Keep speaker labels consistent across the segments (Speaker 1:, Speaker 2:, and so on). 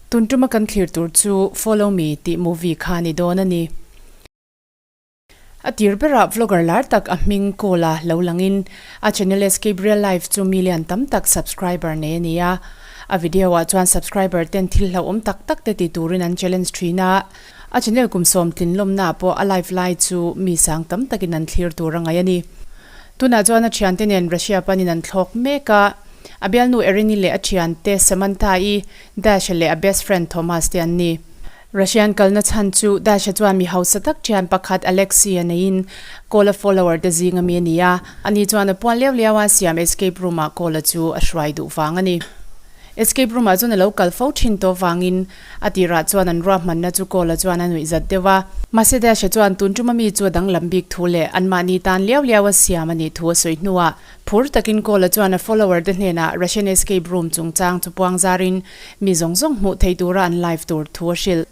Speaker 1: Tun tuma kan thlir tur chu follow me tih movie kha ni dawn a ni. A tir berah vlogger lar tak a hming call a lo lang in a channel Escape Real Life chu mi lian tam tak subscriber nei a ni a. A video ah chuan subscriber ten thil hlauhawm tak tak te ti turin an challenge thin a. A channel kum sawm tlin lawmnaah pawh a live lai chu mi sang tam takin an thlir tur a ngaih a ni. Tunah chuan a thiante nen Russia panin an thlawk mek a. A bialnu Erini leh a thiante Samantha-i Dasha leh a best friend Thomas te an ni. Russian kalna chhan chu Dasha chuan mi hausa tak thian pakhat Alexia neiin Cola follower te zing a mi a ni a. Ani chuan a puan leu leu a, siam escape room-ah Cola chu a hruai duh vang a ni. Escape room-ah chuan a lo kal fo thin tawh vangin A tirah chuan an ruahmanna chu Kawl-a chuan a nuih zat deuh a. Mahse Dash-a chuan tun ṭuma mi chu a danglam bik thu leh anmahni tan liau liau a siam a nih thu a sawi hnuah, phur takin Kawl-a chuan a follower-te hnenah Russian escape room chungchang chu puang zarin mi zawng zawng hmuh theih tura an live tur thu a hrilh.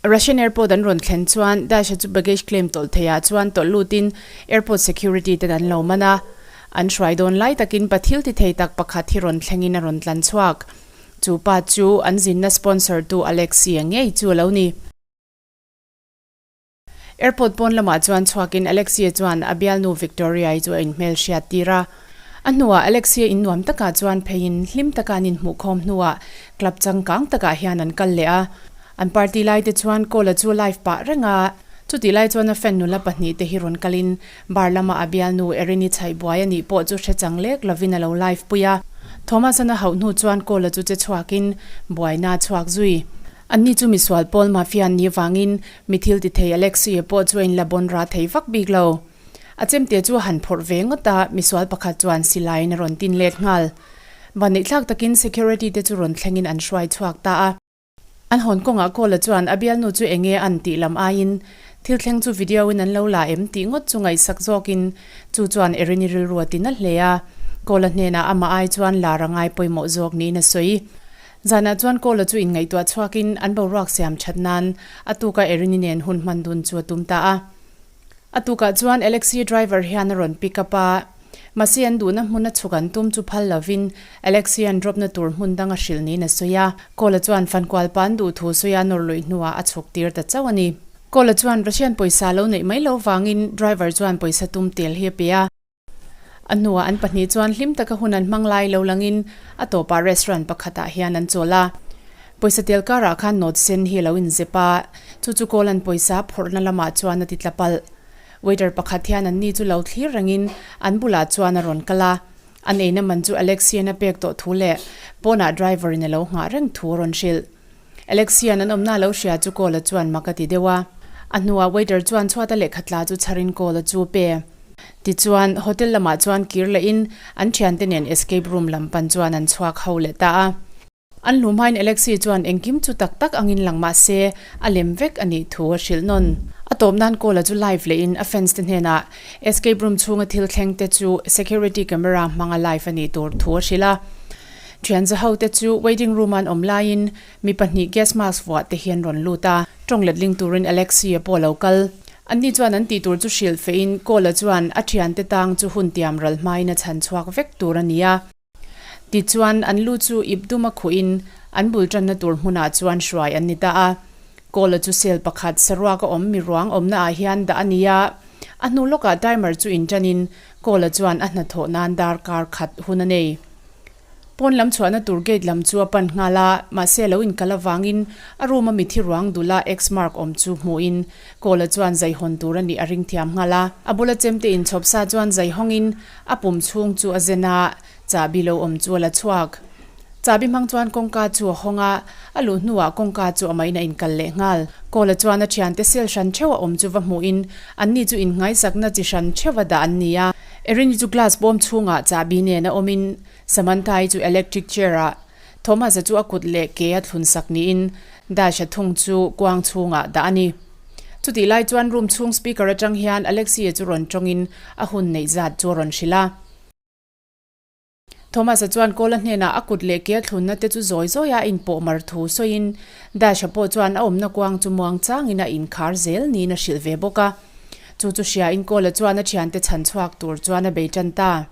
Speaker 1: Russian airport an rawn thlen chuan Dash-a chu baggage claim tawlh theiah chuan tawlh lutin airport security ten an lo man a. An hruai dawn lai takin pathil ti thei tak pakhat hi rawn thlengin a rawn tlan chhuak. Chu pa chu an zinna sponsor tu Alexia ngei chu a lo ni. Airport pawn lamah chuan chhuakin Alexia chuan a bialnu Victoria-i chu a inhmelhriat tir a. A hnuah Alexia in nuam takah chuan pheiin hlim taka an inhmuhkhawm hnuah club changkang takah hian an kal leh a. An party laite chuan Cole-a chu live pah reng a, chutihlai chuan a fan nula pahnih te hi rawn kalin Bar lama a bialnu Erini Chhaibuai a nih pawh chu hrechang lek lovin a lo live pui a. Thomas an a hauh hnu chuan call-a chu che chhuakin Buaina a chhuak zui. Anni chu misual pawl mafia an nih avangin mi thil ti thei Alex Sue pawh chu a in la bawn ra thei vak bik lo. A chemte chu a han phawrh ve ngawt a, misual pakhat chuan silaiin a rawn tin let nghal. Van neih thlak takin security te chu rawn thlengin an hruai chhuak ta a. An hawn kawngah Cole-a chuan a bialnu chu eng nge an tih lam aiin, Thil thleng chu video-in an lo la em? tih ngawt chu ngaihsak zawkin chu chuan erin i rilruat in a hle a. Cole-a hnenah amah ai chuan lar a ngai pawimawh zawk niin a sawi. Zanah chuan Cole-a chu inngaihtuah chhuakin an boruak siam that nan a tuka erin-i nen hun hman dun chu a tum ta a. A tukah chuan Alexy driver hian a rawn pick up a, mahse an duhna hmun a chhuk an tum chu phal lovin Alexy an dropna tur hmun dang a hrilh niin a sawi a. Kawl-a chuan Fankualpa an duh thu sawi a nawr luih hnuah a chhuk tir ta chauh a ni. Kawl-a chuan Russian pawisa lo neih mai lo vangin driver chuan pawisa tum tel hi a pe a. A hnuah an pahnih chuan hlim taka hun an hmang lai lo langin a tawpah restaurant pakhatah hian an chawl a. Pawisa tel karah khan note sen hi a lo inzep a, chu chu Kawlan pawisa phawrhna lamah chuan a ti tla palh. Waiter pakhat hian an ni chu lo thlir rengin an bulah chuan a rawn kal a, an eina man chu Alexia-in a pek tawh thu leh pawnah driver-in a lo nghah reng thu a rawn hrilh. Alexian an awmna lo hria chu call a chuan mak a ti deuh a. A hnuah waiter chuan chhuata lehkha tla chu chhar in call a chu pe. Tichuan hotel lamah chuan kir la in an thiante nen escape room lam pan chuan an chhuak ho leh ta a. An hlu hmain Alexi chuan engkim chu tak tak ang in lang mahse a lem vek a nih thu a hrilh nawn. A tawp nan call a chu live leh in a fans te hnenah escape room chhunga thil thleng te chu security camera hmanga live a nih tur thu a hrilh a. Thianza hote chu waiting room an awm laiin mi pahnih gas mask vuah te hi an rawn lut a, tawng letling turin Alexia pawh a lo kal. Anni chuan an tihtur chu hrilh fehin Cole-a chuan a thiante tang chu hun tiam ral hmain a chhan chhuak vek tur a ni a. Tichuan, an lu chu ip dum a khuhin an bul tanna tur hmunah chuan hruai an ni ta a. Cole-a chu cell pakhat saruak a awm mi ruang awmnaah hian dah a ni a, a hnu lawkah timer chu in tanin Cole-a chuan a hnathawh nan dar kar khat hun a nei. Pawn lam chhuahna tur gate lam chu a pan nghal a, mahse a lo inkal avangin a room a mithi ruang dula X mark awm chu hmuhin Cole-a chuan zai hawn tur a nih a ring thiam nghal a. A bula chemte in chhawp sa chuan zai hawngin a pum chhung chu a zen a. Chahbi lo awm chu a la chhuak. Chahbi hmang chuan kawngka chu a hawng a, a luh hnuah kawngka chu a mahin a in kal leh nghal. Kawla chuan a thiante sel hran theuh a awm chu va hmuhin anni chu inngaisakna chi hran theuh a dah an ni a. Erin-i chu glass bawm chhungah Chahbi nena awmin Samantha-i chu electric chair-ah Thomas-a chu a kut leh ke a thlun sak niin Dasha thung chu kuang chhungah dah a ni. Chutih lai chuan room chhung speaker atang hian Alexia chu rawn tawngin a hun neih zat chu a rawn hrilh a. Thomas-a chuan Kawl-a hnenah a kut leh kialthlunna te chu zawi zawi a inpawhmar thu sawiin, Dash-a pawh chuan a awmna kuang chu muang changin a inkhar zel niin a hrilh ve bawk a. Chu chu hriain Kawl-a chuan a thiante chhan chhuak tur chuan a bei tan ta.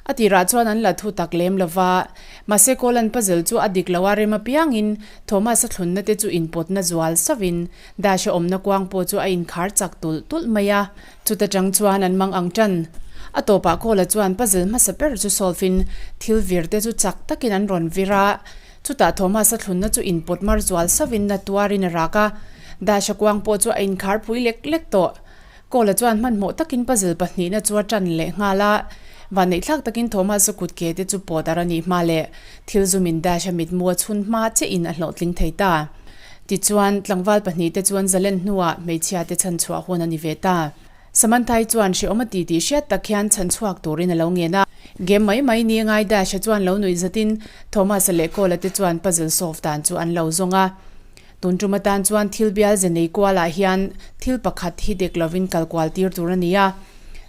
Speaker 1: A tirah chuan an la thu tak lem lova. Mahse Kawl-a'n pazel chu a dik lo a rem apiangin, Thomas-a thlunna te chu inpawtna zual sauhin, Dash-a awmna kuang pawh chu a inkhar chak tulh tulh mai a. Chuta tang chuan an mang ang tan. A tawpah Kawla chuan puzzle hmasa ber chu solve in thil vir te chu chak takin an rawn vir a. Chutah Thomasa thlunna chu inpawt mar zual sauhin la tuar in a rak a. Dasha kuang pawh chu a inkhar pui lek lek tawh. Kawla chuan hmanhmawh takin puzzle pahnihna chu a tan leh nghal a. Vaneihthlak takin Thomasa kut ke te chu pawdar a nih hma leh thil zumin Dasha mitmu a chhun hma che in a hlawhtling thei ta. Tichuan, tlangval pahnih te chuan Zalen hnuah hmeichhia te chhan chhuah hun a ni ve ta. Samantha-i chuan hreawm a ti tih hriat tak hian chhan chhuak turin a lo ngen a. Game mai mai ni a ngai Dash-a chuan lo nuih zatin Thomas-a leh Cole-a te chuan puzzle solve dan chu an lo zawng a. Tun tum atan chuan thil bial ze nei kualah hian thil pakhat hi dek lovin kal kual tir tur a ni a.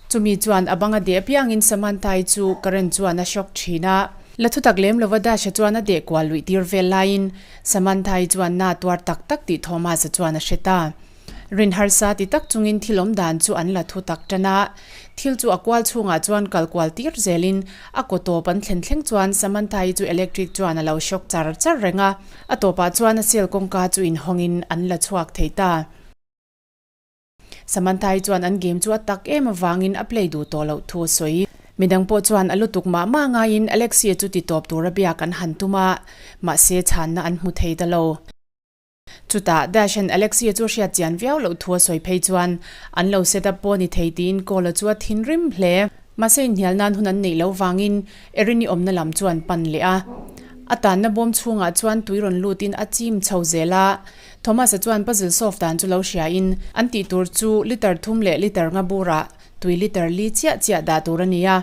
Speaker 1: Chumi chuan a bang a deh apiangin Samantha-i chu Karen chuan a shock thin a. La thutak lem lova Dash-a chuan a deh kual luih tir vel laiin, Samantha-i chuan na tuar tak tak tih Thomas-a chuan a hre ta. Rin harsa ti tak chungin thil awm dan chu an la thu tak tan a. Thil chu a kual chhungah chuan kal kual tir zelin a kaw tawp an thlen thleng chuan Samantha-i chu electric chuan a lo shock char char reng a. A tawpah chuan a cell kawngka chu inhawngin an la chhuak thei ta. Samantha-i chuan an game chu a tak em avangin a play duh tawh loh thu a sawi. Midang pawh chuan a lutuk mah mah ngaiin Alexia chu ti tawp tura biak an han tum a, mahse chhanna an hmu thei ta lo. Chutah Dash-a'n Alexia chu a hriat chian viau loh thu a sawi phei chuan an lo set up pawh ni thei tiin Cole-a chu a thin rim hle. Mahse inhnial nan hun an neih lo vangin Erin-i awmna lam chu an pan leh a. A tanna bawm chhungah chuan tui rawn lutin a chim chho zel a. Thomas-a chuan puzzle solve dan chu lo hriain, an tih tur chu litre thum leh litre nga bura tui litre li chiah chiah dah tur a ni a.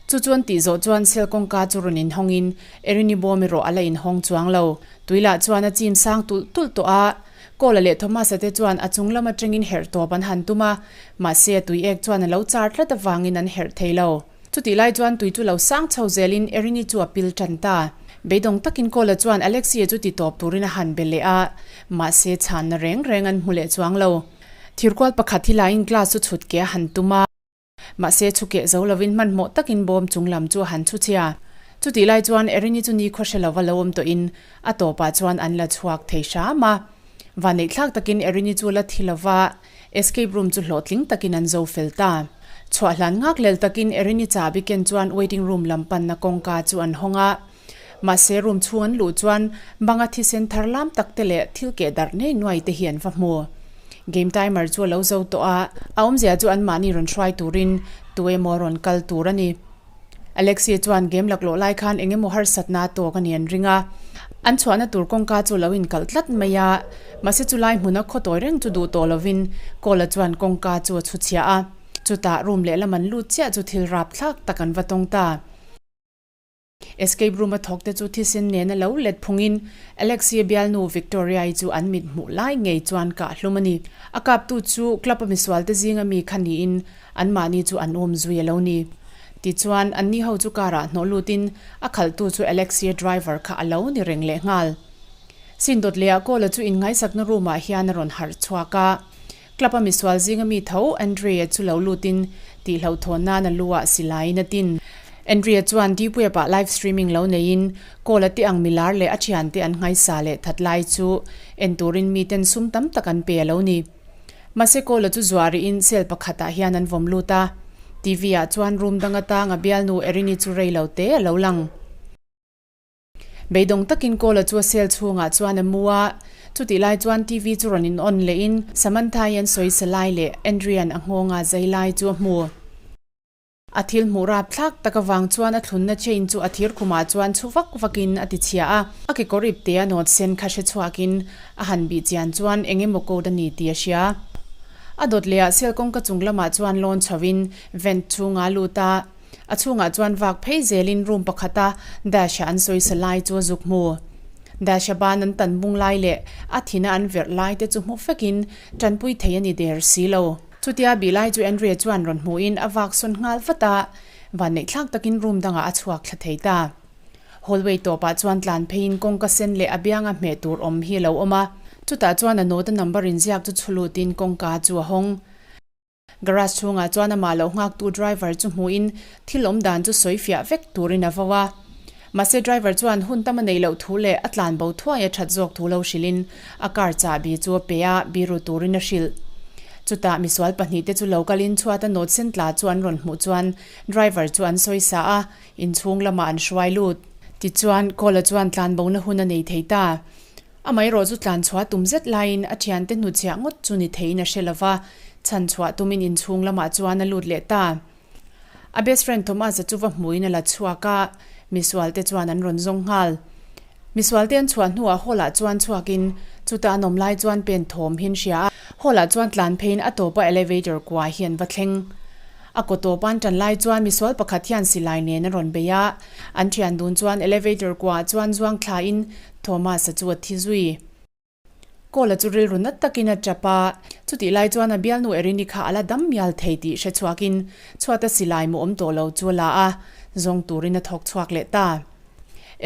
Speaker 1: Chu chu an tih zawh chuan cell kawngka chu rawn inhawngin, Erin-i bawm erawh a la inhawng chuang lo. Tui lah chuan a chim sang tulh tulh tawh a. Cole-a leh Thomas-a te chuan a chung lam atangin herh tawp an han tum a, mahse tui ek chuan a lo char tlat avangin an herh thei lo. Chutih lai chuan tui chu lo sang chho zelin Erini chu a pil tan ta. Beidawng takin Cole-a chuan Alexia chu ti tawp turin a han be leh a, mahse chhanna reng reng an hmu leh chuang lo. Thirkual pakhat hi laiin glass chu chhut ke a han tum a, mahse chhu keh zo lovin hmanhmawh takin bawm chung lam chu a han chhu chhia. Chutih lai chuan Erini chu nikhua hre lova lo awm tawhin a tawpah chuan an la chhuak thei hram a. Vanneihthlak takin Erini chu la thi lova, Escape room chu hlawhtling takin an zo fel ta. Chhuah hlan ngak lel takin Erini cha biken chuan waiting room lam panna kawngka chu an hawng a. Mahse room chhung an luh chuan banga thisen thar lam tak te leh thil keh darh nei nuai te hi an va hmu. Game timer chu a lo zo tawh a, a awmzia chu anmahni rawn hruai turin tu emaw rawn kal tur a ni. Alexia chuan game laklawh lai khan eng emaw harsatnaa tawk a ni an ring a. An chhuahna tur kawngka chu lo inkalh tlat mai a, mahse chu lai hmuna khaw tawi reng chu duh tawh lovin Cole-a chuan kawngka chu a chhuchhiah a. Chutah room lehlam an lut chiah chu thil rap thlak tak an va tawng ta. Escape room-a thawkte chu thisen nena lo let phungin Alexia bialnu Victoria-i chu an mit hmuh lai ngei chuan kah hlum a ni. A kaptu chu club-a misualte zinga mi kha niin Anmahni chu an awm zui a lo ni. Tichuan, anni ho chu car-ah hnawh lutin a khalhtu chu Alexia driver kha a lo ni reng leh nghal. Sindot leh a Kawla chu innghaisakna room-ah hian a rawn harh chhuak a. Club-a misual zing a mi tho Andrea chu lo lutin tih hlauhthawn nan a lu a si laiin a tin. Andrea chuan deep web-ah live streaming lo neiin Kawla te ang milar leh a thiante an nghaisa leh that lai chu en turin miten sum tam tak an pe a lo ni. Mahse Kawla chu zuariin cell pakhatah hian an vawm lut a. TV ah chuan room dang atanga bialnu Erini chu rei lo te a lo lang. Beidawng takin Kawla chu a cell chhungah chuan a mu a. Chutih lai chuan TV chu rawn in on lehin Samantha-i an sawi sa lai leh Andrian a nghawng a zai lai chu a hmu. A thil hmuh rap thlak tak avang chuan a thlunna chain chu a thir khumah chuan chhu vak vakin a tichhia a. A kekawr ip te a nawt sen kha hre chhuakin a han bih chian chuan eng emaw code a ni tih a hria. A dawt leh ah cell kawngka chung lamah chuan lawn chhoin vent chhung ah a lut a. A chhungah chuan vak phei zelin room pakhat a Dash a an sawisa lai chu a zuk hmu. Dash a ban an tan bung lai leh a thina an verh lai te chu hmu fekin tanpui thei a ni der si lo. Chutia Bilai chu Andrea chuan rawn hmuhin a vak sawn nghal vat a, vanneih thlak takin room dangah a chhuak thla thei ta. Hallway tawpah chuan tlan pheiin kawngka sen leh a bianga hmeh tur awm hi a lo awm a, chutah chuan a nawta number inziak chu chhulutin kawngka chu a hawng. Garage chhungah chuan amah lo nghaktu driver chu hmuhin thil awm dan chu sawi fiah vek turin a vo a. Mahse driver chuan hun tam a nei loh thu leh a tlan bo thuaia that zawk thu lo hrilhin a car chah bi chu a pe a, bi ru turin a hrilh. Chutah misual pahnih te chu lo kalin chhuata nawt sen tla chu an rawn hmuh chuan driver chu an sawi sa a, inchhung lamah an hruai lut. Tichuan, Kawl-a chuan tlan bona hun a nei thei ta. Amaherawh chu tlan chhuah tum zet laiin a thiante hnuchhiah ngawt chu ni theiin a hre lova, chhan chhuah tumin inchhung lamah chuan a lut leh ta. A best friend Thomas-a chu va hmuin a la chhuak a, Misualte chuan an rawn zawng nghal. Misualte an chhuah hnuah Hall-ah chuan chhuakin chuta an awm lai chuan pen thawm hi an hria a. Hall-ah chuan tlan pheiin a tawpa elevator kuaah hi an va thleng. A kaw tawpa an tan lai chuan Misual pakhat hian silai nen a rawn bei a. An thian dun chuan elevator kuaah chuan zuangthlain Thomas-a chu a thi zui. Kawla chu rilru nat takin a tap a, chutih lai chuan a bialnu Erini kha a la dam mial thei tih hre chhuakin chhuat a si lai maw awm tawh lo chu a la a, zawng turin a thawk chhuak leh ta.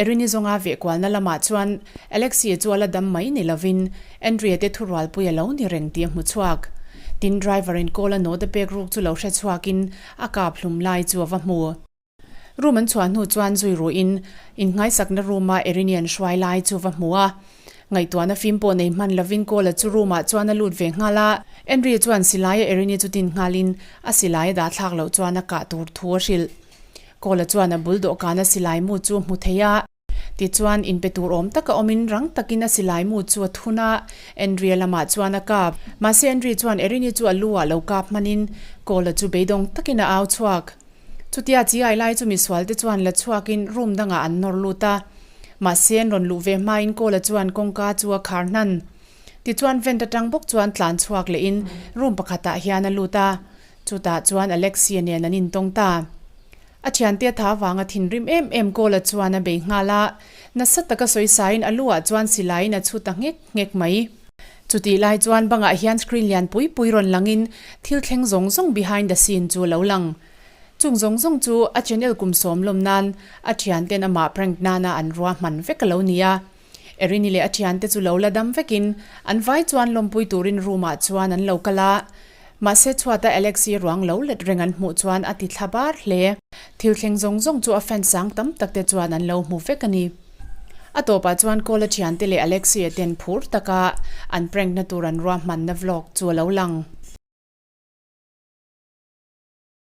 Speaker 1: Erini zawnga vehkualna lamah chuan Alexia chu a la dam mai ni lovin Andrea te thurualpui a lo ni reng tih a hmu chhuak. Tin driver-in Kawla nawt a pek ruk chu lo hre chhuakin a kap hlum lai chu a va hmu. Room an chhuah hnu chuan zui ruhin in hnaisakna room a Erini an hruai lai chu va hmu a, ngaihtuahna fim pawh nei hman lovin Kawl-a chu room ah chuan a lut ve nghal a, Enri chuan Silai-a Erini chu tin nghalin a Silai-a dah thlak loh chuan a kah tur thu a hrilh. Kawl-a chuan a bul dawhkana Silai mu chu hmu thei a, Tichuan, in pe tur awm taka awmin rang takin a silaimu chu a thun a, Andrea lamah chuan a kap. Mahse, Andrea chuan Erini chu a lu-ah lo kap hmanin Cole-a chu beidawng takin a au chhuak. Chutia chi ai lai chu misualte chuan la chhuakin room dangah an nawr lut a. Mahse, an rawn luh ve hmain Cole-a chuan kawngka chu a khar hnan. Tichuan, vent atang bawk chuan tlan chhuak lehin room pakhatah hian a lut a. Chutah chuan Alexia nen an intawng ta. A thiante tha vanga thinrim em em Kawla chuan a bei nghal a, nasa taka sawi sain a lu ah chuan silaiin a chhut a nghek nghek mai. Chutih lai chuan bangah hian screen lian pui pui rawn langin thil thleng zawng zawng behind the scene chu lo lang. Chung zawng zawng chu a channel kum sawm lawm nan a thianten amah prank nana an rua hman vek a lo ni a. Erini leh a thiante chu lo la dam vekin an vai chuan lawmpui turin room-ah chuan an lo kal a. Mahse chhuata Alex hi ruang lo let reng an hmuh chuan a ti thla bar hle. Thil thleng zawng zawng chu a fan sang tam tak te chuan an lo hmu vek a ni. A tawpah chuan Kawl a thiante leh Alexia ten phur taka an prank na tur an ruahmanna vlog chu a lo lang.